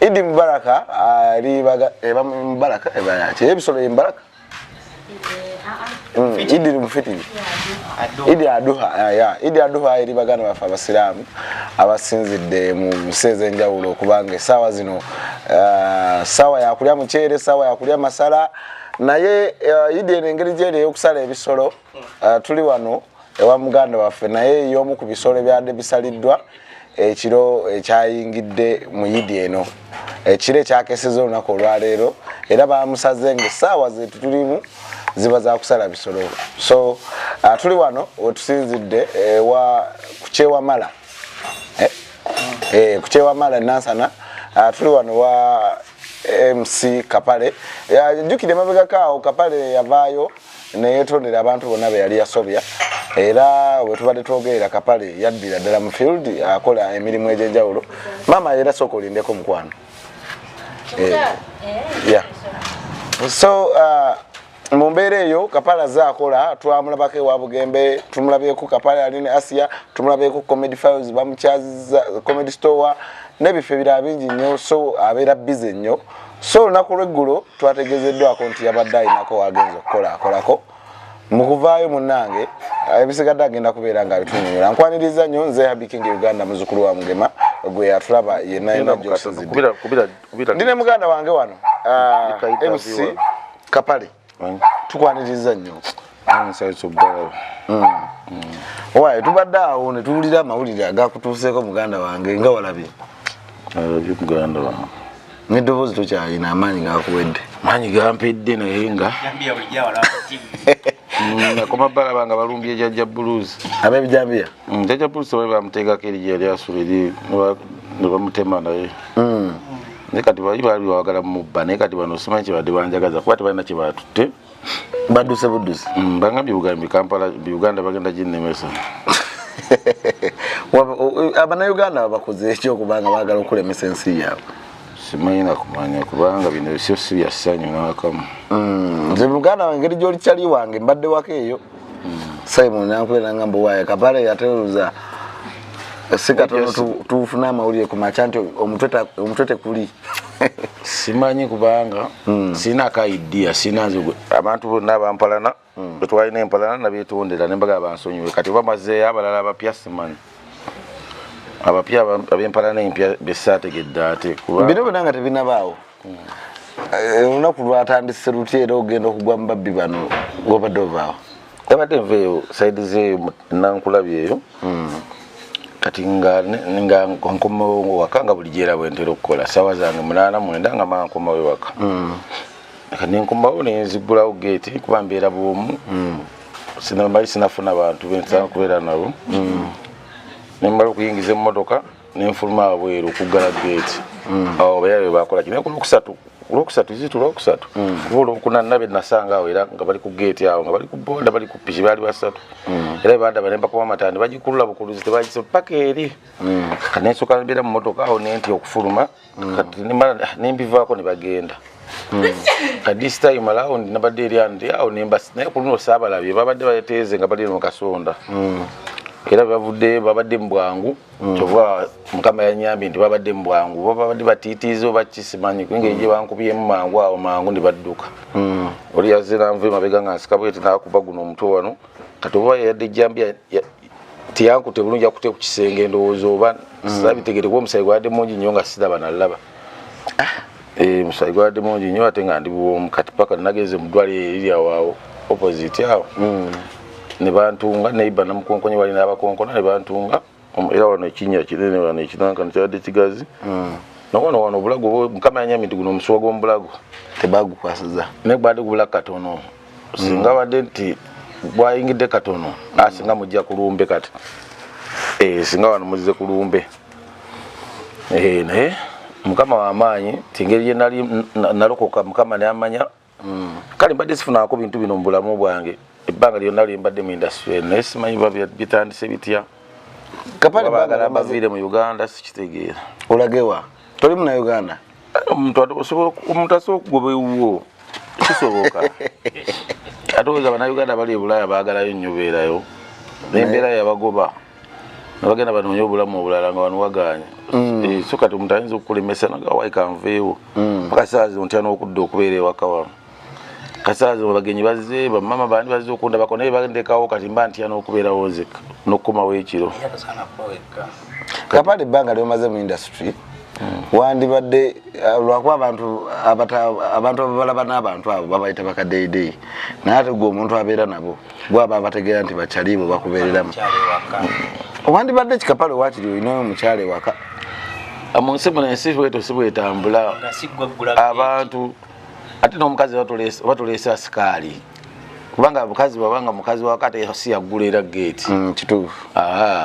Idi Mubaraka ali ah, baga eba eh, Mubaraka eba eh, yake. Hebu solo Mubaraka. Mm, Idi mufitiri. Idi aduha ah, ya. Idi aduha eri bagana bafa abasiramu abasinzidde mu nseze enjawulo kubanga esawa zino ah, sawa ya kulya muchere sawa ya kulya masala naye Idi ene ngeri jere yokusala ebisolo tuli wano ewa muganda waffe naye y'omu ku bisolo ebyadde bisaliddwa ekiro ekyayingidde mu yidi eno ekiro ekyakeseza olunaku olwaleero era bamusaze nga essaawa zetu tulimu ziba zakusala bisolo so uh, tuli wano wetusinzidde ewa kukyewamala eh, eh, kukyewamala nansana uh, tuli wano wa mc kapale jukire mabegako awo kapale yavaayo neyetondera abantu bonna be yali yasobya era wetubadde twogerera kapale yaddira ddala mu field akola emirimu egyenjawulo maama era sooka olindeko mukwano eh, eh, so uh, mu mbeera eyo kapala zakola twamulabako ewa bugembe tumulabyeko kapala yali ne asia tumulabyeko comedy files bamukyaziza comedy store n'ebifo ebirala bingi nnyo so abeera bize nnyo so olunaku lweggulo twategezeddwako nti yabadde alinako wagenza okukola akolako mu kuvaayo munnange ebisigadde agenda kubeera nga bitunyonyola nkwaniriza nnyo nze habikinga uganda muzukulu wa mugema gwe yatulaba yenayina gyosinzidde ndi ne muganda wange wano ah, mc kapale tukwaniriza nnyo mm. owaye tubadde awo ne tuwulira amawulire agakutuuseeko muganda wange nga walabye alabye muganda wange neddoboozi tokyalina amaanyi gakuwedde maanyi gampedde naye nga nakoma mm, balaba nga balumbye jajja buluzi abebijambiya mm, jajja buluzi tebaali bamuteekako erija yali asula eri nebamutema naye mm. naye kati bali baali bawagala mubba naye kati bano simanyi kyebadde banjagaza kuba tebalina kyebatutte baduse budusi bangambye bugambi kampala uganda bagenda ginemesa abanauganda bakoze ekyokubanga bagala okulemesa ensi yaabwe simanyi nakumanya kubanga bino bisio si bya ssanyu nakamu mm, nze muganda wange ngeri gyoli kyali wange mbadde wako eyo mm. simon nankubera nga mbuwaye kapale yateruza si katono tufuna amawulire ku makya nti omutwe tekuli simanyi kubanga mm. sirina ka idia sirina abantu bonna bampalana mm. twalina empalana nabyetondera nembaga bansonyiwe kati oba mazeeyo abalala abapya simanyi abapya abempalana empya besaategedde ate bino byona nga tebinabaawo mm. eh, olunaku lwatandise lutya era ogenda okugwa mubabbi bano wabadde ovaawo abadde nveeyo saidi zeeyo nankulabyeeyo mm. kati nga nga nkomawo waka nga buli gyera bwentera okukola sawa zange munana mwenda nga mankomawo ewaka mm. kati nenkomawo nenzigulawo geeti kuba mbeera bwomu mm. sinamali sinafuna bantu bensana kubeera nabo mm. nemmala okuyingiza emmotoka nenfuluma abweru okuggala geeti mm. awo bayaa bebakolaki naye kulwokusatu kulwokusatu izitu lwokusatu kuba olwokuna nabe nasanga awo era nga bali ku geeti awo nga bali ku boda bali ku piki baali basatu era bebandaba nembakuba amatandi bagikulula bukuluzi tebagiso paka eri kanensoka mbeera mu motoka awo nenti okufuluma mm. kati nimala nembivaako ne bagenda mm. at this time around nabadde eri andi awo nembasi naye ku luno saabalabye babadde bateeze nga bali mu kasonda mm. era bavudde babadde mu bwangu kyova mukama yanyambye nti babadde mu bwangu babadde batiitiiza oba kisimanyi kuinga egye bankubyemu mangu awo mangu ne badduka oli yazze nanva emabega nga nsika bweti nakuba guno omutwe wano kati oba yayadde ejjambi tiyankute bulungi akute ku kisenge ndowooza oba mm. sabitegere kuba omusayi gwabadde mungi nnyo nga siraba nalaba ah. eh, omusayi gwabadde mungi nnyo ate nga ndi bwomu kati paka nagenze mu ddwaliro eriryawawo opposite awo mm. ne bantunga neiba namukonkonye wali n'abakonkona ne bantunga era wano ekinya kinene wano ekinankano kyabadde kigazi mm. nawano wano obulago mukama yanyamidde guno omusuwa gw'omubulago tebagukwasiza naye gwali gubula katono singa mm. badde nti bwayingidde katono asinga mujja kulumbe kati eh, singa wano muzize kulumbe eh, naye mukama wamaanyi tingeri yenali nalokoka mukama namanya mm. kale mbadde sifunako bintu bino mubulamu bwange ebbanga lyonna lyembadde mu industry naye simanyi bitandise bitya bagala baviire mu uganda sikitegeera olagewa toli muna uganda omuntu asobola okugoba ewuwo kisoboka ate oza banauganda bali ebulaaya bagalayo nnyo beerayo nembeera yabagoba nabagenda banoonya obulamu obulala nga banuwagaanya mm. eh, so kati omuntu ayinza okukulemesa nagawaika nveewo mm. paka saa zino ntya n'okudda okubeera ewaka wano kasaazi abagenyi bazze bamama bandi bazze okundabako naye bandekawo kati mba ntya n'okubeerawo nzeka n'okukomawo ekiro kapale ebbanga lyomaze mu industry wandibadde eh, lwakuba abantu abantu ababalaba n'abantu abo babayita bakadeedeeyi naye ate gwe omuntu abeera nabo gwaba abategeera nti bakyaliibwe bakubeereramu wandibadde kikapale wakiri olinayo omukyalo ewaka ah, mu nsi muno ensi bweto si bwetambula abantu ate n'omukazi oba tuleese asikaali kubanga abukazi babanga mukazi wakati si yaggula era geeti mm, kituufu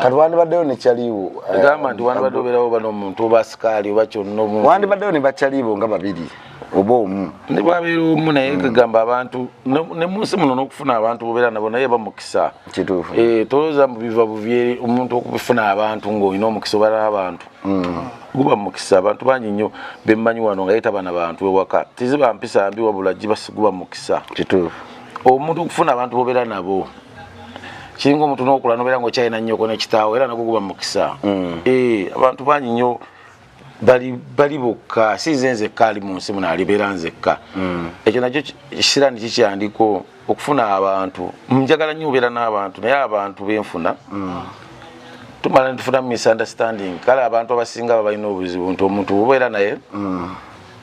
kati wandibaddeyo nekyaliiwo eh, gamba nti wandibadde obeerawo oba nomuntu oba asikaali oba kyonna omuntu wandibaddeyo ne bakyaliiwo nga babiri oba omu ne bwabeera omu naye mm. gamba abantu ne munsi muno n'okufuna abantu bobeera nabo naye bamukisa kituufu eh, tolowooza mbu biva bubyeri omuntu okufuna abantu ng'olina omukisa obeera n'abantu mm. guba mukisa abantu bangi nnyo bemmanyi wano nga yeta bana bantu ewaka tiziba mpisa mbi wabula gibasiguba mukisa kituufu omuntu okufuna abantu bobeera nabo kiringa omuntu nokula nobeera nga okyalina nnyoko nekitaawo era nago guba mukisa mm. eh, abantu bangi nnyo bali bokka si nze nzekka ali mu nsi muno alibeera nzekka mm. ekyo nakyo kisiraani kikyandiko okufuna abantu njagala nnyo obeera n'abantu naye abantu benfuna mm. tumala nitufuna mu misunderstanding kale abantu abasinga babalina obuzibu nti omuntu obeera naye mm.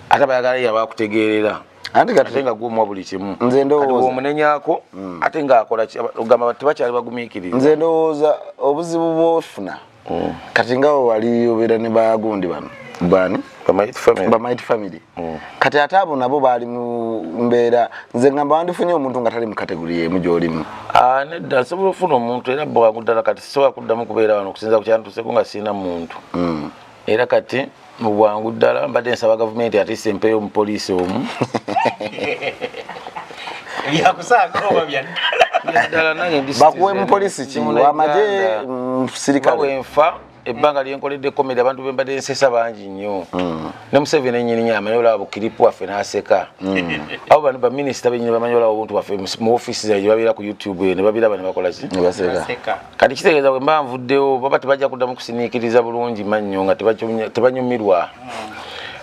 ate bayagala yaba akutegeerera ate nga gwomwa buli kimu omunenyako mm. ate ngaakolaogamba tebakyali bagumiikiriza nze ndowooza obuzibu bwofuna mm. kati nga wali obeera ne bagundi bano bani bamaiti family mm. kati ate abo nabo baali mu mbeera nze ngamba wandifunye omuntu nga tali mu kategori emu gyolimu ah, nedda nsobola okufuna omuntu era bwangu ddala kati sisobola kuddamu kubeera wano okusinza kukyantuseko nga sirina muntu mm. era kati mu bwangu ddala mbadde nsaba gavumenti atisa empeyo omupoliisi omu bakuwe mupoliisi kiwamaje musirikalewenfa ebbanga lyenkoledde komedi abantu bembadde nsesa bangi nnyo hmm. ne museveni enyini amanyi olaba bukiripu waffe naseka hmm. abo bano baminisita benyini bamanyi olaba obuntu baffe mu ofisi zaye gyebabeera ku youtube eyo nebabiraba nebakolaki kati kitegeeza bwe mba nvuddewo baba tebajja kuddamu kusiniikiriza bulungi mannyo nga tebanyumirwa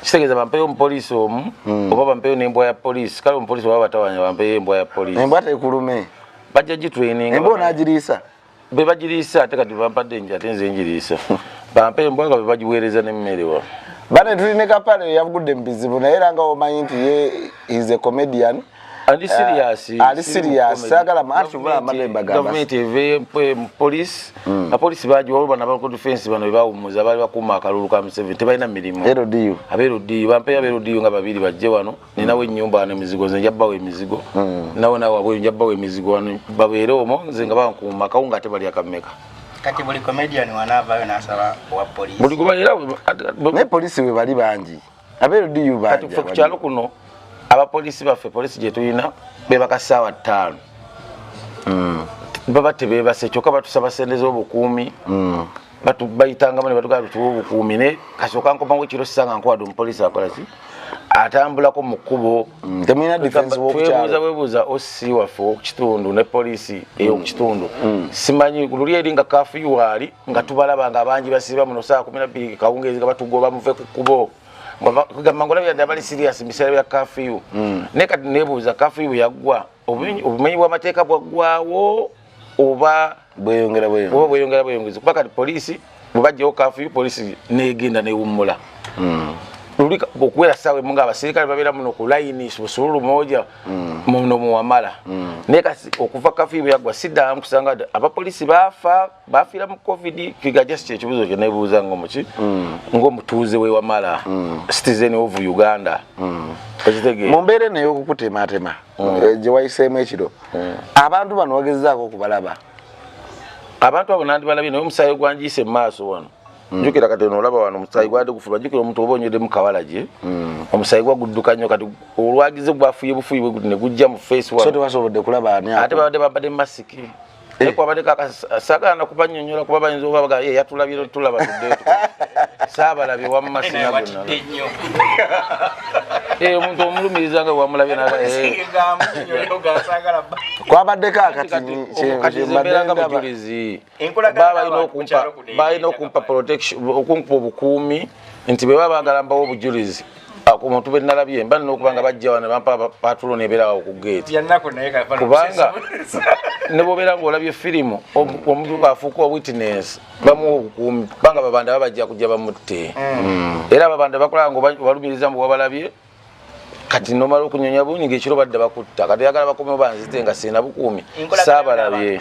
kitegeeza bampeyo omupoliisi omu hmm. oba bampeyo n'embwa ya poliisi kale omupoliisi oba batawanya bampeyo embwa ya poliisi embwa tekulume bajja gitraininga embwa onaagiriisa be bagiriisa ate kati bampadde nja ate nze njiriisa bampa embwa nga be bagiweereza n'emmere wa bane tuli ne kapale yavugudde mu bizibu naye era nga omanyi nti ye is a comedian ali serious eh, ali serious sagala mantu ba malemba gamba government eve police mm. a police baji wao bana ba defense bana ba umuza bali bakuma kalulu ka mseven tebaina milimo ero diu abero diu bampe ya bero diu ngaba bili baje wano mm. nina we nyumba na mizigo zenja ba we mizigo mm. nawo nawo abo nja ba we mizigo wano ba we ero mo zenga ba kuma kaunga te bali akameka kati buli comedian wanava yo nasaba wa police buli kuba era ne police we bali banji kati fe ku kyalo kuno abapoliisi baffe poliisi gye tulina bebaka ssaawa ttaano hmm. baba tebebase kyokka batusaba sente z'obukuumi hmm. bayitangamu ne batugala tutuwa obukuumi ne kasooka nkomawo ekiro sisanga nkwade omupoliisi akolaki atambulako mu kkubo mm, temulina difenswebuuza bwebuuza osi waffe okukitundu ne poliisi mm. eyokukitundu mm. simanyi luli eri nga kafuyu waali nga tubalaba nga abangi basiba muno saa kumi nabbiri kawungeezi nga batugoba muve ku kubo kugamba ngola byadde abali sirias mubiseera bya kafiyu hmm. naye kati nebuuza kafiyu yaggwa hmm. obumenyi bw'amateeka bwaggwawo oba bweyongera bweyongera bweyongezi kuba kati poliisi bwebajjawo kafiyu poliisi negenda newummula hmm. luli okuwera saawa emu nga abaserikale babeera muno ku layini busululu moja mm. muno muwamala mm. naye kasi okuva kafiyu bweyaggwa siddamu kusanga abapoliisi baafa bafiira mu covid figa just kyekibuzo kyenebuuza ngo muki mm. ngo mutuuze we wamala mm. citizen of uganda mm. okitegee mu mbeera eno ey'okukutemaatema mm. Eh, gye wayiseemu ekiro mm. abantu bano wagezezaako okubalaba abantu abo nandibalabye naye omusaayi gwanjiyise mu maaso wano Mm. jukira kati ono olaba wano omusaayi gwade gufuba jukira omuntu oba onywedde mu kawala gye mm. omusaayi gwa gudduka nnyo kati olwagize gwafuye bufuyi bwe guti ne gujja mu face wa so tewasobodde kulaba ani ate babadde babadde masiki naye kwabadeko sagana kubanyonyola kuba bayinza oba baga ye yatulabira tulaba tudde saabalabye wamma sinagunae eh, omuntu omulumiriza nga wamulabye naga eh. kwabaddeko akatiembeeranga bujulizi balina okumpa okumpa obukuumi nti bwe baba baagala mbawo obujulizi omuntu be nalabye mba nina okuba nga bajja wano bampa patulo nebeerawo ku geeti kubanga ne bobeera ngaolabye firimu omuntu afuuka owitness bamuwa obukuumi kubanga babanda babajja kujja bamutte mm. era babanda bakola nga obalumiriza mbu wabalabye kati nomala okunyonya bungi ngekiro badde bakutta kati yagala bakomewo banzite nga sina bukuumi saabalabye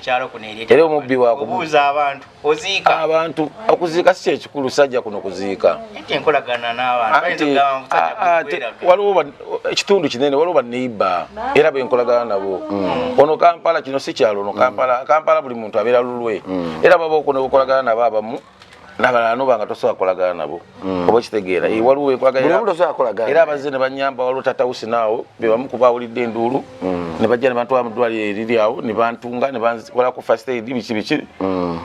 era omubbi wakubuuza abantu oziika abantu okuziika si kyekikulu sajja kuno kuziika waliwo ekitundu kinene waliwo baneiba era benkolagana nabo mm. ono kampala kino si kyalo ono kampala mm. kampala buli muntu abeera lulwe mm. era baba okunobukolagana nabo abamu nabalala noba nga tosobola kolagana nabo mm. oba okitegeera mm. waliwo wekwagalaera abazze ne banyamba waliwo tatawusi naawo bebamu kuba awulidde enduulu mm. ne bajja ne bantwala mu ddwaliro eriri awo ne bantunga ne bankolako first aid biki biki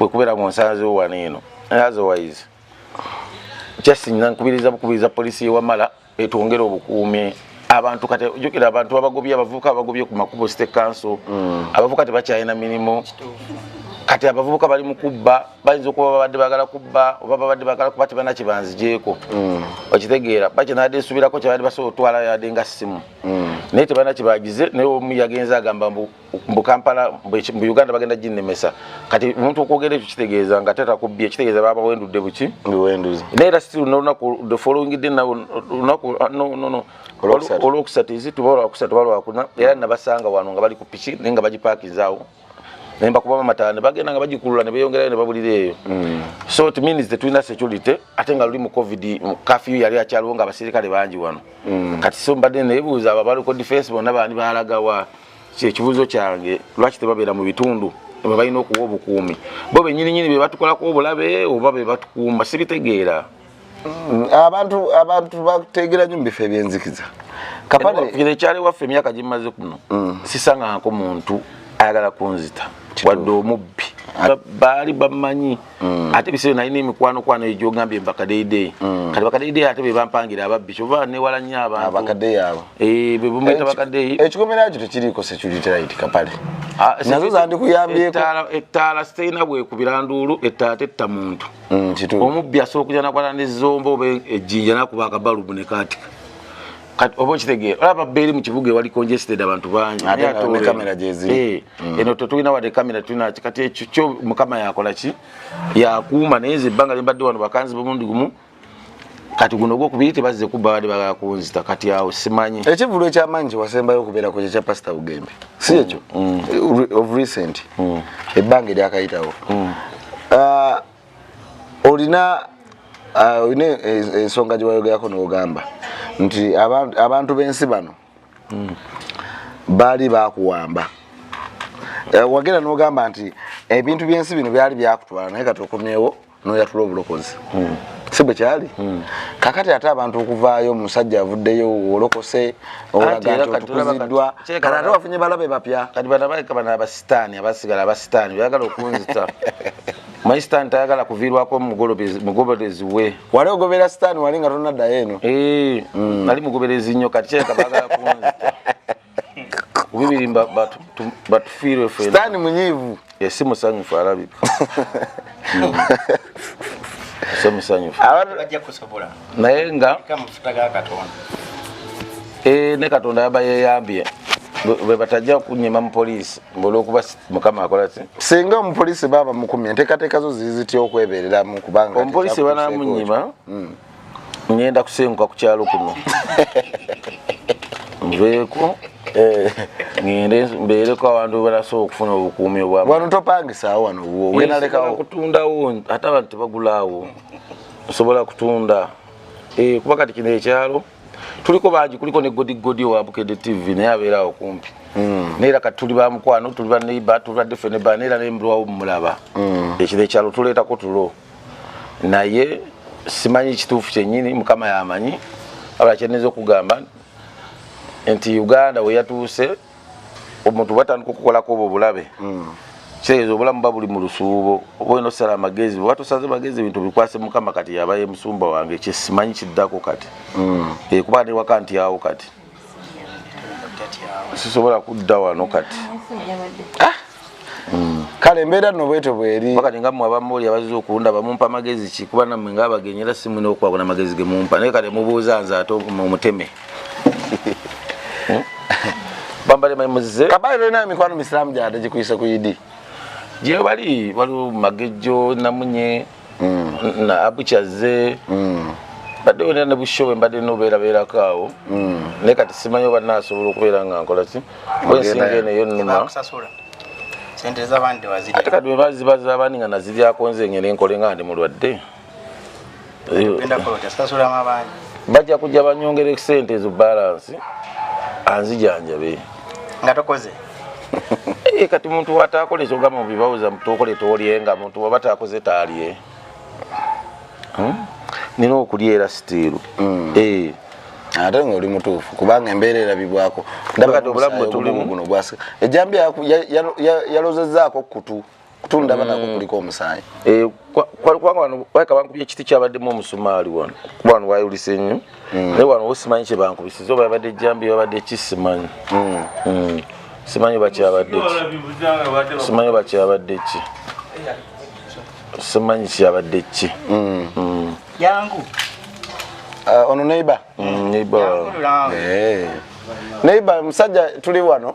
wekubeera mu nsanzewo wano eno otherwise just nkubiriza bukubiriza poliisi yewamala etwongere obukuumi abantu kati ojukira abantu babagobye abavubuka abagobye ku makubo state council mm. abavubuka tebakyalina mirimu kati abavubuka bali mu kubba bayinza okuba babadde bagala kubba oba babadde bagala kuba tebalina kyebanzijeeko mm. okitegeera bakyenabadde nsubirako kyebadde basobola otwala yabadde nga simu mm. naye tebalina kyebagize naye omu yagenza agamba mbu mbu kampala mbu uganda bagenda ginemesa kati omuntu okwogera ekyo kitegeeza nga tata kubbye kitegeeza baba wendudde buki biwenduzi naye era still nolunaku the following day nawo lunaku ah, no no no olwokusatu izi tuba olwakusatu balwakuna era nabasanga wano nga bali ku piki naye nga bagipakinzaawo naye mbakuba bamatala ne bagenda nga bagikulula ne beyongerayo ne babulira eyo mm. so it means the twina security ate nga luli mu covid kafyu yali akyaliwo nga abaserikale bangi wano mm. kati so mbadde nebuuza ababaliko defense bonna baani balagawa kyekibuzo kyange lwaki tebabeera mu bitundu bebalina okuwa obukuumi bo benyininyini bebatukolako obulabe oba bebatukuuma sibitegeera mm, abantu abantu bategeera nyo mubifo ebyenzikiza ekyali waffe emyaka gimaze kuno mm. sisanganko muntu ayagala kunzita wadde omubbi baali bamanyi Mm. ate bisere nalina emikwano kwano eyo gyogambye mbakadeidei mm. kati bakadeidei ate bebampangira ababbi kyova newala nyo abantuekikomerao kyo tekiriiko securityrite kapale ah, nazo zandikuyambyekoettaala siterina bwekubira nduulu ettaala tetta muntu mm, omubbi asobola okuja nakwata nezomba oba ejjinja nakuba akabalubu nekatika kati oba okitegeera olaba beeri mu kibuga ewali congested abantu bangi ate kamera gyeziri eh. Mm. eno tetulina wadde kamera tulina kati ekyo kyo mukama yakola ki yakuuma naye nze ebbanga lyembadde wano bakanzi bumundi gumu kati guno ogwokubiri tebazze kubba badde bagala kunzita kati awo simanyi ekivulu ekyamaanyi kyewasembayo okubeerako kyekya pasita bugembe si ekyo mm. mm. of recent ebbanga eryakayitawo uh, olina uh, olina ensonga gyewayogerako nogamba nti abantu b'ensi bano hmm. baali bakuwamba eh, wagenda nogamba nti ebintu byensi bino byali byakutwala naye kati okomyewo noyatula obulokozi hmm. si bwe kyali hmm. kakati ate abantu okuvaayo omusajja avuddeyo olokose olaga nti otukuziddwa kati ate wafunye balabe bapya kati banabaika bana abasitaani abasigala abasitaani byagala okunzita maisitaani tayagala kuviirwako mugoberezi we wali ogobera sitaani wali nga tonaddayo eno eh, mm. nali mugoberezi nnyo kati kyeka bagala kunzita kubibiri batufiirwe festaani munyiivu esi eh, musanyufu alabika ese mm. musanyufu naye nga eh, ne katonda yaba yeyambye bwebatajja kunyima mu poliisi ngolwokuba mukama akola ki singa omupolisi baaba mukumye enteekateeka zo ziri zitya okwebereramu kubanga omupolisi banamunyima hmm. ngenda kusenguka ku kyalo kuno nveeko eh. ngende mbeereko abantu banasobola okufuna obukuumi obwam wano topangisaawo wano wenalekawo kutundawo ate abantu tebagulaawo nsobola kutunda eh, kuba kati kino ekyalo tuliko bangi kuliko ne godigodi owa bukede tv naye abeera awo kumpi hmm. naye era kati tuli bamukwano tuli baneiba tuli badefeneba naye era naye mulwawo mumulaba hmm. ekiro ekyalo tuleetako tulo naye simanyi kituufu kyenyini mukama yamanyi abala kyeneza okugamba nti uganda weyatuuse omuntu bwatandika okukolako obwo bulabe mm. kitegeeza obulamu ba buli mu lusuubo oba olina okusala amagezi oba tosaze magezi ebintu bikwase mukama kati yaba ye musumba wange kyesimanyi kiddako kati mm. eh, kuba newaka nti awo kati sisobola kudda wano kati ah! kale embeera no bwete bweri wakati nga mwe abamu oli abazze okulunda bamumpa magezi ki kuba namwe nga abagenyi era si mwina okukwako na magezi ge mumpa naye kale mubuuza nze ate omuteme hmm? bambale mamuze kabayi lolina emikwano misiramu gyade gikuyise ku idi gyebali waliwo magejjo namunye na abu kyazze mbadde wena ne bushobe mbadde nobeerabeerako awo naye kati simanyi oba naasobola okubeera nga nkola ki bwensinga eno eyo numa ate kati bwebaziba zabandi nga naziryako nze ngene nkole nga ndi mulwadde bajja kujja banyongere sente ezo balansi anzijanjabe nga tokoze Eh, kati muntu watakola ekyogamba mubibawuza mutokole tolye nga muntu waba takoze talye hmm? nina okulya era sitiiru hmm. eh. ate nga oli mutuufu kubanga embeera erabibwako ndabati obulamu bwetulimu guno gwasika ejambi yalozezaako kutu kutunda bana mm. kuliko omusayi eh kwa kwa kwa wano waka banku bye kiti kyabadde mu musumali wano kwa wano wayo lisenyu mm. ne wano osimanyi kye banku bisizo babadde jambi babadde kisimanyi mm. mm. simanyi ba kyabadde ki simanyi ba kyabadde ki simanyi kyabadde ki mm. mm. yangu uh, ono neighbor mm, neighbor eh. neighbor musajja tuli wano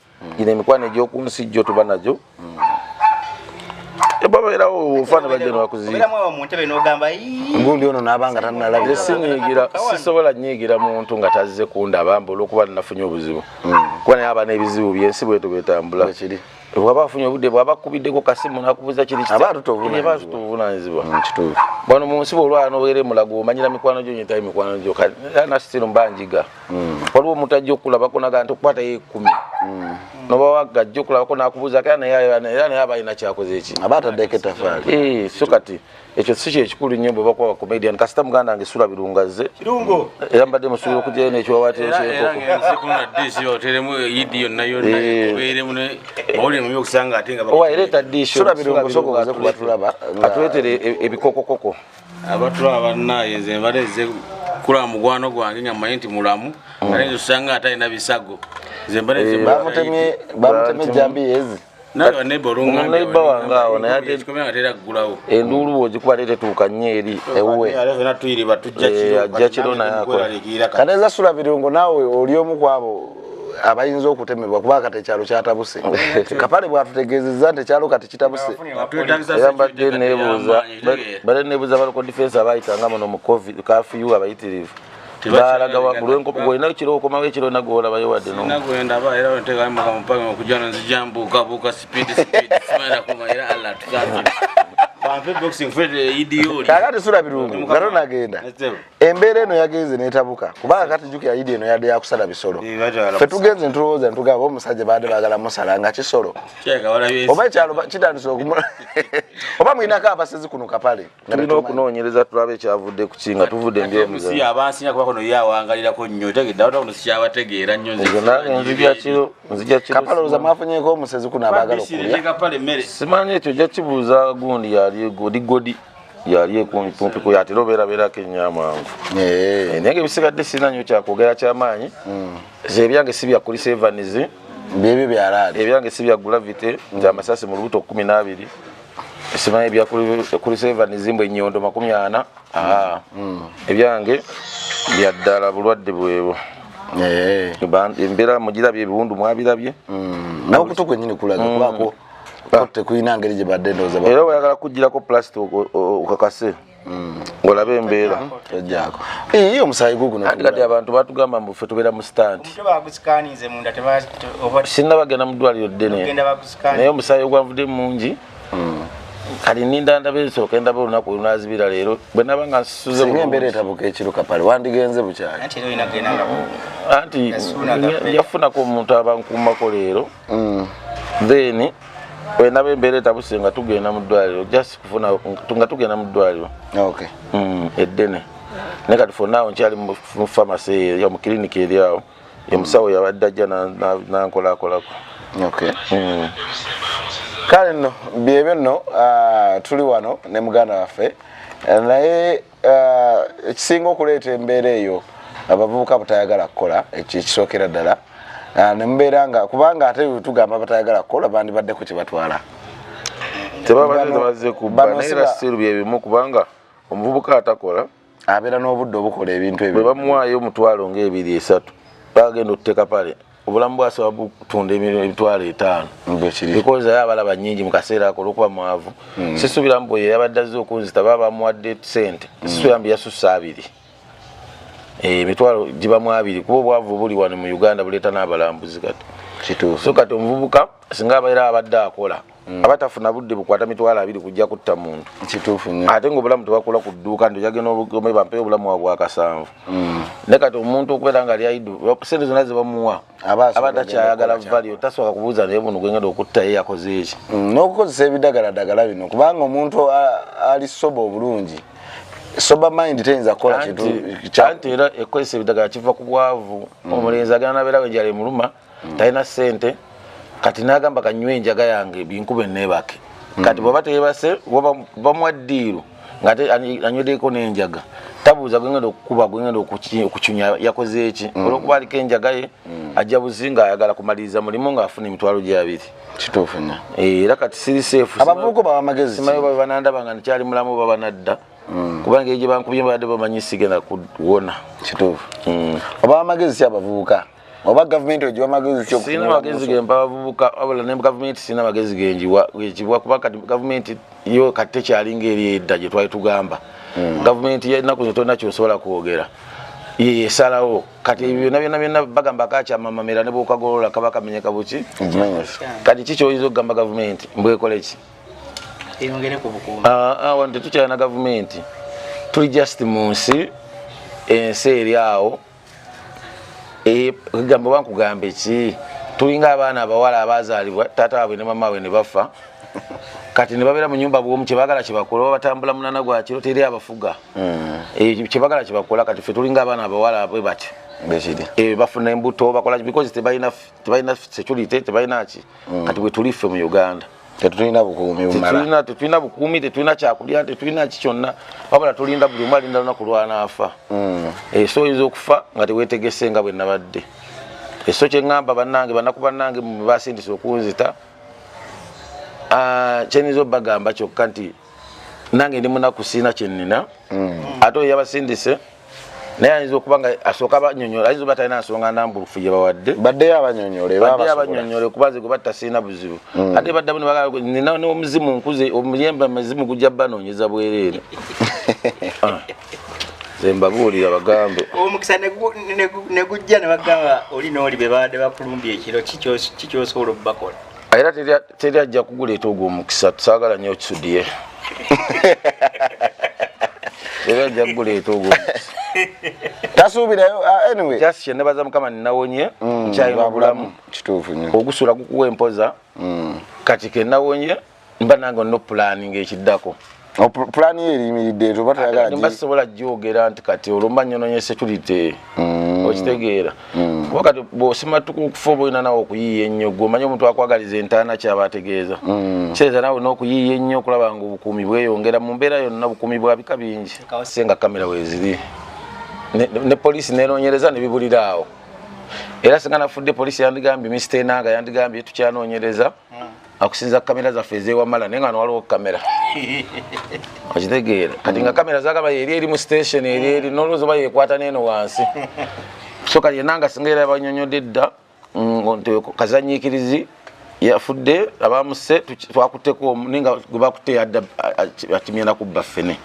gino emikwano egy'oku nsi jjo tuba nagyo babeerawo ofa nebajja nebakuziigundi ono nabanga tanalabye sinyigira sisobola nyigira muntu nga tazze kundaba mbu olwokuba nafunye obuzibu hmm. kuba naye aba n'ebizibu byensi bwetu bwetambula bwaba afunye obudde bwaba akubiddeko kasimu nakubuza kirituvunaanyizibwa hmm, bano mu nsi bwolwana obeere mulago omanyira mikwano gyo nyetayo mikwano gyo nasitiru mba njiga mm. waliwo omuntu ajja okulabako naga nti okukwata yo ekumi mm. nobawaga ajja okulabako nakubuuza kera naye naye aba alina kyakoze eki aba ataddeko etafaali eh, so kati ekyo si kyekikulu nnyo bwe bakuba bacomedian kasita muganda nge sula birungazze era mbadde musuubira okujayo nekyowateereeta dishoatulaba atuleetere ebikokokoko abatula abannaye nze mbadde nze kula mukwano gwange nga mmanyi nti mulamu mm. ale nze osanga ate alina bisago nze mbadde nze bamutemye bamutemye jambi yezi enduulu bwogikuba te tetuuka nnyo eri ewuweajja kiro naye akola kati eza sula birungo naawe oli omu kwabo abayinza okutemebwa kuba kati ekyalo kyatabuse kapale bwatutegezeza nti ekyalo kati kitabuse era mbadde nebuuza bade nebuuza baloko difensi abayitanga muno mu covid kafiyu abayitirivu balaga wakulwenkopo golinayo kiro okomawo ekiro nagoola bayo wadde kakati sula birungu gato nagenda embeera eno yagenze netabuka kubanga kati jukira idi eno yadde yakusala bisolo fe tugenze ntulowooza ntugamba omusajja baadde bagala musala nga kisolo oba ekyalo kitandise okumula oba mulinako abasezi kuno kapale tulina okunoonyereza tulabe ekyavudde ku kinga tuvudde mbyomusi abansinya kuba kono yawangalirako nnyo tegedde abantu kuno sikyabategeera nnyo nzijkapale oloza mwafunyeko omusezi kuno abagala okulya simanyi ekyo jakibuuza gundi yali godi godi yali ekumpikumpiku yatera obeerabeerako ennyo amangu eh. Eh, naye nga ebisigadde sirina nnyo kyakwogera kyamaanyi hmm. ebyange si byakulisa evanizi byebyo byalaali ebyange si bya gulavity nti hmm. amasasi mu lubuto kumi n'abiri simanyi ebyakulisa evanizi mbu ennyondo makumi ana hmm. ebyange byaddala bulwadde bwebwo eh. embeera mugirabye ebiwundu mwabirabye n'okutu kwenyini kulaga kubako ah. tekulina ngeri gye badde ndowooza era oyagala kugirako plastic okakase mm. ngolabe embeera ojako ii omusayi guguno ati kati abantu batugamba mbu ffe tubeera mu stand sinna bagenda mu ddwaliro ddene naye omusayi ogwavudde mungi mm. kati ninda ndaba esooka endaba olunaku olunazibira leero bwe naba nga nsuze embeera etabuka ekiruka pale wandigenze bukyali anti njafunako omuntu abankuumako leero mm. then wenaba embeera etabuse nga tugenda mu ddwaliro just kufuna nga tugenda mu ddwaliro okay. mm, eddene naye kati fonaawo nkyali mu famasi eyo mu kiriniki eri awo omusawo yabadde ajja nankolakolako hmm. kale nno byebyo nno ah, tuli wano ne muganda waffe eh, naye Eh, ekisinga okuleeta embeera eyo abavubuka butayagala kukola ekyo ekisookera ddala eh, nemubeera nga kubanga ate tugamba batayagala kukola bandibadde ku kyebatwala tebabazze kubanaerasiru byebimu kubanga omuvubuka atakola abeera n'obudde obukola ebintu ebyo bwebamuwaayo omutwalo ngaebiri esatu bagenda otuteka pale obulamu bwasobola butunda emitwalo etaano because aye abalaba nyingi mu kaseera ako olwokuba mwavu hmm. sisuubira mbu oyo yabadde azze okunzita baba bamuwadde sente hmm. sisuubira mbu yasussa abiri eh, emitwalo gibamu abiri kuba obwavu buli wano mu uganda buleeta n'abalambuzi kati so kati omuvubuka singa abaera abadde akola Mm. aba tafuna budde bukwata mitwalo abiri kujja kutta muntu kituufu nyo ate nga obulamu tebakula ku dduuka nti ojagenda obugome bampeyo obulamu wa bwakasanvu mm. ne kati omuntu okubeera nga lyaidu sente zonna zebamuwa aba takyayagala valio tasooka kubuuza naye buno gwengenda okutta ye yakoze eki mm, n'okukozesa ebidagaladagala bino kubanga omuntu ali soba obulungi sober mind teyinza kukola kintu anti era ekozesa ebidagala kiva ku bwavu omulenzi agana nabeera wejali muluma mm. talina sente kati nagamba kanywe enjaga yange binkube nebake mm. kati bwaba teyebase bamwa diiru ngate anywedeko nenjaga tabuuza gwengenda okukuba gwengenda okucunya yakoze eki mm. olwokuba aliko enjaga ye mm. ajja buzinga ayagala kumaliriza mulimu ngaafuna emitwalo gyabiri kituufu nyo eh, era kati siri seefu abavubuka baba magezi simayo babanandaba nga nikyali mulamu baba nadda mm. kuba ngeri gye bankubye babadde bamanyi sigenda kuwona kituufu oba amagezi si abavubuka oba gavumenti ogiwa magezi ki sirina magezi ge mpa bavubuka wabula ne gavumenti sirina magezi ge ngiwa ekibwa kuba kati gavumenti yo kati tekyali ngeri edda gye twali tugamba hmm. gavumenti yennaku zo tolina kyosobola kwogera yeyesalawo kati ebyo byona byona byona bagamba kakyamamamira ne bwokagolola kaba kamenyeka buki kati ki kyoyinza okugamba gavumenti mbwekoleki ah, ah, wano tetukyalina gavumenti tuli just mu nsi ensi eri awo eh, gambo bankugamba eki tulinga abaana abawala abazalibwa taata wabwe ne mama we ne bafa kati nebabeera mu nyumba bwomu kyebagala kyebakola oba batambula munana gwa kiro teri abafuga mm. eh, kyebagala kyebakola kati fe tulinga abaana abawala bwe batyo eh, bafuna embuto bakola because tebalina security tebalina ki mm. kati bwetuli ffe mu uganda tetulina bukuumi bumala tetulina bukuumi tetulina kyakulya tetulina ki kyonna wabula tulinda buli omu alinda lunaku lwanaafa hmm. eh, so oyinza okufa nga tewetegese nga bwenabadde eso eh, kyeŋamba banange banaku banange basindisa okunzita ah, kyenyinza obagamba kyokka nti nange ndi munaku sirina kyenina mm. ate oyo yabasindise naye ayinza okuba nga asooka abanyonyola ayinza oba talina nsonga nambulufu gye bawadde baddeyo abanyonyolebadeyo abanyonyole kuba nze gwebatta sirina buzibu mm. ate baddamu nina nomuzimu nkuze omuyemba muzimu gujja banoonyeza bwereere ah. zembabuulira bagambe omukisa negujja nebagamba oli nooli bebabadde bakulumbya ekiro kikyosobola okubakola era teri ajja kuguleeta ogwo omukisa tusaagala nyo okisudiye era ajja kuguleeta ogwo tasuubirayo ah, anyway just kyenebaza mukama ninawonye mm, nkyalina obulamu kituufu nyo ogusula gukuwa empoza mm. kati kenawonye mba nange onno pulaninga ekiddako Oh, pulani ye eriyimiridde eto batayagalasibola gyogera nti kati olumba nyononye security mm. okitegeera mm. kuba kati bosimatuka okufa oba olina nawe okuyiiya ennyo gwe omanyi omuntu akwagaliza entaana kyaba ategeeza mm. kireeza nawe olina okuyiiya ennyo okulaba nga obukuumi bweyongera mu mbeera yonna bukuumi bwa bika bingi se nga kamera weziri ne poliisi nenonyereza nebibulira awo era singa nafudde poliisi yandigambye misita enanga yandigambye tukyanoonyereza akusinza kamera zaffe ezewamala naye nga nwaliwo kamera okitegeera kati nga kamera zagaba yeri eri mu station eri eri nolowooza oba yekwata neeno wansi so kati yena nga singa era banyonyodde dda mm, nti kazanyikirizi yafudde abamuse twakuteko naye nga gwebakutte yadda akimyenda kubba ffene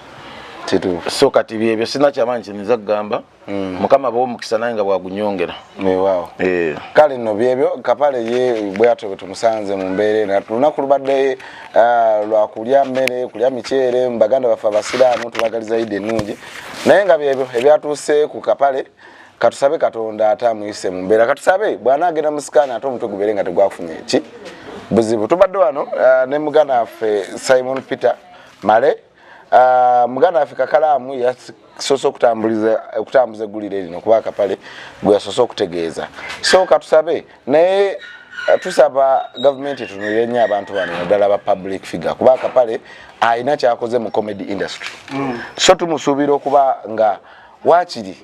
so kati byebyo sina kyamanyi kiniza kugamba Mm. mukama abawa omukisa naye nga bwagunyongera weewaawo eh. kale nno byebyo kapale ye bweyatyo bwe tumusanze mu mbeera ena lunaku lubadde ah, lwa kulya mmere kulya miceere mu baganda baffe abasiraamu tubagaliza idi ennungi naye nga byebyo ebyatuuse ku kapale katusabe katonda ate amuyise mu mbeera katusabe bw'anaagenda mu sikaani ate omutwe gubeere nga tegwafunye ki buzibu tubadde wano ah, ne muganda waffe simon peter male Ah, muganda waffe kakalaamu yasoose okutambuza eggulire lino kuba akapale gwe yasoose okutegeeza so katusabe naye eh, tusaba gavumenti etunulire nnyo abantu bano naddala ba public figure kuba akapale alina kyakoze mu comedy industry mm. so tumusuubira okuba nga waakiri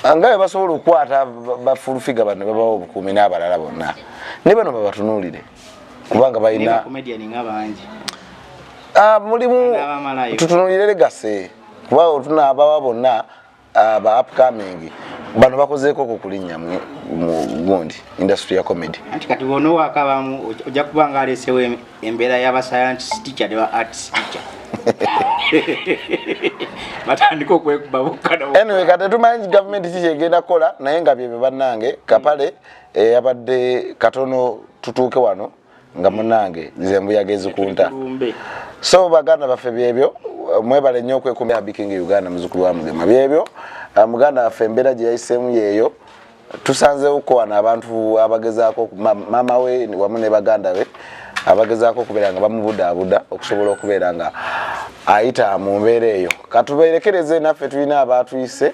ah, nga bebasobola okukwata bafulufiga bano bebawa obukuumi n'abalala bonna ne bano babatunuulire kubanga balina ah, mulimu tutunulire legase kuba otuna abawa bonna ah, ba upcoming bano bakozeeko ku kulinnya mu gundi industry ya comedy anti kati bona owakabamu ojja kuba nga aleesewo embeera y'abascience teacher ne ba arts teacher batandika okwekuba bukka anyway kati tumanyi gavumenti kikyegenda kukola naye nga byebyo bannange kapale mm. eyabadde katono tutuuke wano nga munange nze mbuyaga ezikunta so baganda baffe byebyo mwebale nnyo okwekumya biking uganda muzukulu wa mugema byebyo ah, muganda waffe embeera gye yayiseemu yeeyo tusanzeewo kukowana abantu abagezaako maama we wamu ne baganda be abagezaako okubeera nga bamubudaabuda okusobola okubeera nga ayita mu mbeera eyo katubeerekereze naffe tulina abaatuyise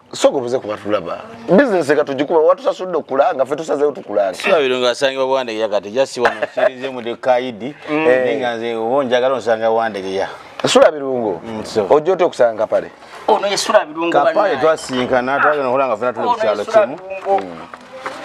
soka obuze kuba tulaba bizinesi eka tugikuba watusasudde okulanga fe tusazeyo tukulanga sibabiro nga asangibwa bwandegeya kati jasi wano kirize mu dekaidi mm. eh. naye nga nze oba onjagala onsanga bwandegeya sula birungo mm, ojja otya okusanga pale ono ye sula birungo kapale twasinkana twagenda okola nga fena tuli ku kyalo kimu mm.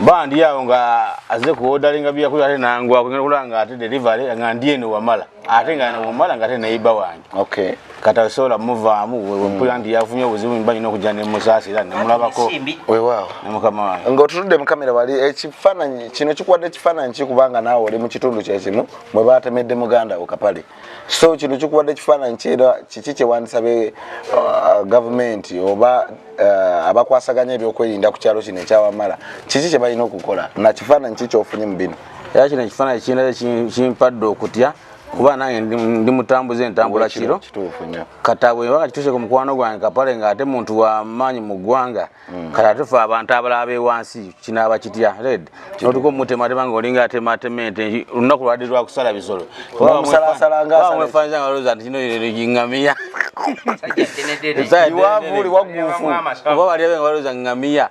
bandi awo nga aze kuwodalinga byakulya ate nangwa kugenda okola nga ate delivery nga ndi eno wamala ate nga wamala nga ate nayiba wange okay kata osobola muvaamu wempulira hmm. nti yafunye obuzibu mba nina okujja nemusaasira nemulabako wewaawo ne mukama wange ngaotutudde mu kamera wali ekifaananyi kino kikuwadde ekifaananyi kikubanga naawe oli mu kitundu kyekimu mwe batemedde muganda wo kapale so kino kikuwadde ekifaananyi kiera kiki kyewandisabe uh, gavumenti oba uh, abakwasaganya ebyokwerinda ku kyalo kino ekyawamala kiki kyebalina okukola nakifaananyi ki kyofunye mu bino era kino ekifaananyi kirina kimpadde okutya kuba nange ndi mutambuza entambula kiro katabwe ebanga kituse ku mukwano gwange kapale nga ate muntu wamaanyi mu ggwanga mm. kati ate fe abantu abalaba bewansi kinaaba kitya red notuka omutematema nga olinga atematema ente olunaku lwadi lwakusala bisolo mwefanizangaloza nti kino ngamiya iwavuli wagufu oba baliabe nga baloza ngamiya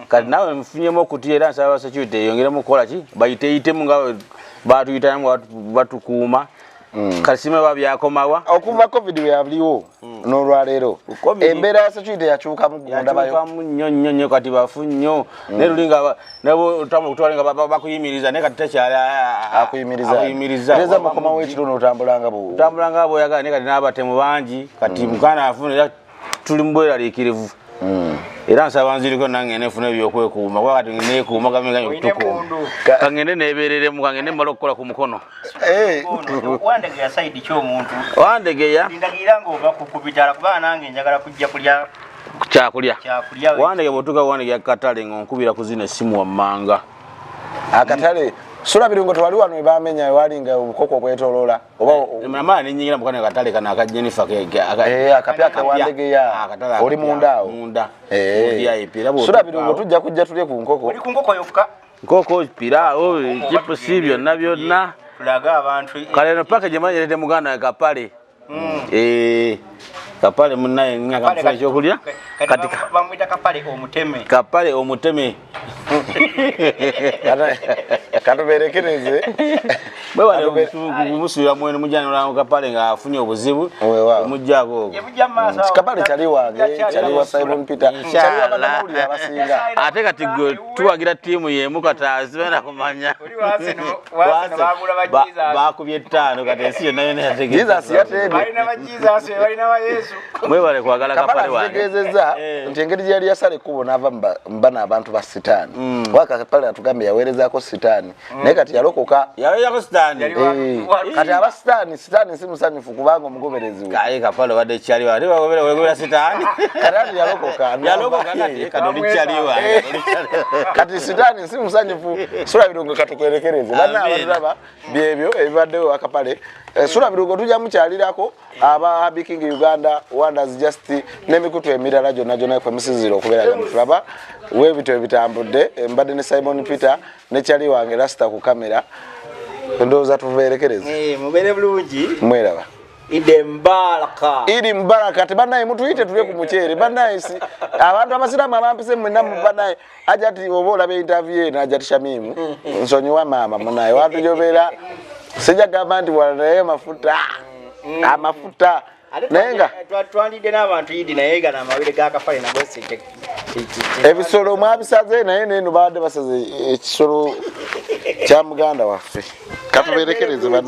kati nawe nfunyemu okutya era nsaba security eyongeremu okukola ki bayiteyitemu nga batuyitayo nga batukuuma mm. kasima ba byakomawa okuva covid weyaliwo mm. nolwaleero embeera ya security yakyuka mugundabayomu nnyo nnyo nnyo kati bafu nnyo mm. naye lulinga nabotambula okutwala nga bakuyimiriza naye kati takyali akuyimirizaakuyimirizaeza mukomawo ekiro notambulanga botambulanga boyagala naye kati n'abatemu bangi kati mukana afuna tuli mu bweraliikirivu hmm. era nsaba nziriko nange nefuna ebyokwekuuma kuba kati nekuuma gamenganyo kutukuuma kangende nebereremu kangende mumala okukola ku mukono eh. wandegeya saidi ki omuntu wandegeya ndagirira ngaova kukubitala kuba nange njagala kujja kulya kyakulya wandege bwotuka wandege akatale nga onkubira ku zino essimu wammanga akatale sula biringo tewali wano ebamenya walinga obukoko obwetoloola oba mama ne nyingira mukana katale kana ka Jennifer ke aga eh akapya ka wandege ya ah, akatala oli munda munda eh ya ipira bo sura bino tujja kujja tule ku nkoko oli ku nkoko yofuka nkoko pira o oh, chipo sibyo nabyo na tulaga abantu eh. kale no package manje lete muganda ka pale mm. eh kapale munaye nga kapale kyokulya katika bamwita kapale omuteme kapale omuteme katuberekereze bwebanemusubira mwenu mujanolanga kapale nga afunye obuzibu omujjako ogokapale kyali wange kyali wa simon peter kyali wabanamawulire abasinga ate kati gwe tuwagira tiimu yemu katazi bena kumanya bakubye ettaano kati ensi yonna yona yategemwebale kwagala kapale wangetegezeza eh, eh. nti engeri gyeyali yasala ekkubo naava mbana abantu ba sitaani mm. waka kapale natugambe yaweerezako sitaani mm. naye kati yalokoka yaloyako sitaani eh, kati aba sitaani sitaani si musanyufu okubanga omugoberezi we kaye kapalo bade chali wa riba gobere we gobera sitani karabi yalokoka yalokoka kati kadoli chali wa kati sitani si musanyifu sura birungo katukwelekereze bana abalaba byebyo ebibadde akapale eh, sura birungo tuja mukyalirako aba happy king uganda wonders just nemikutu emirala jona jona kwe musiziro okubera gamuflaba we bitu ebitambudde eh, mbadde ne simon peter ne chali wange rasta ku camera ndoza tuverekereza eh mubere bulungi mweraba ide mbaraka ide mbaraka te banaye mutuite tule ku muchere banaye si abantu abasiramu abampise mu namu banaye ajati obola be interview ena ajati shamimu nsonyo wa mama munaye watu jobera sija gamba ndi wala mafuta mm. amafuta mm. naye nga twandidde n'abantu yidi naye gana amawere gakafale nagosite ebisolo mwabisaze naye neno baadde basaze ekisolo kya muganda waffe katuberekereze bana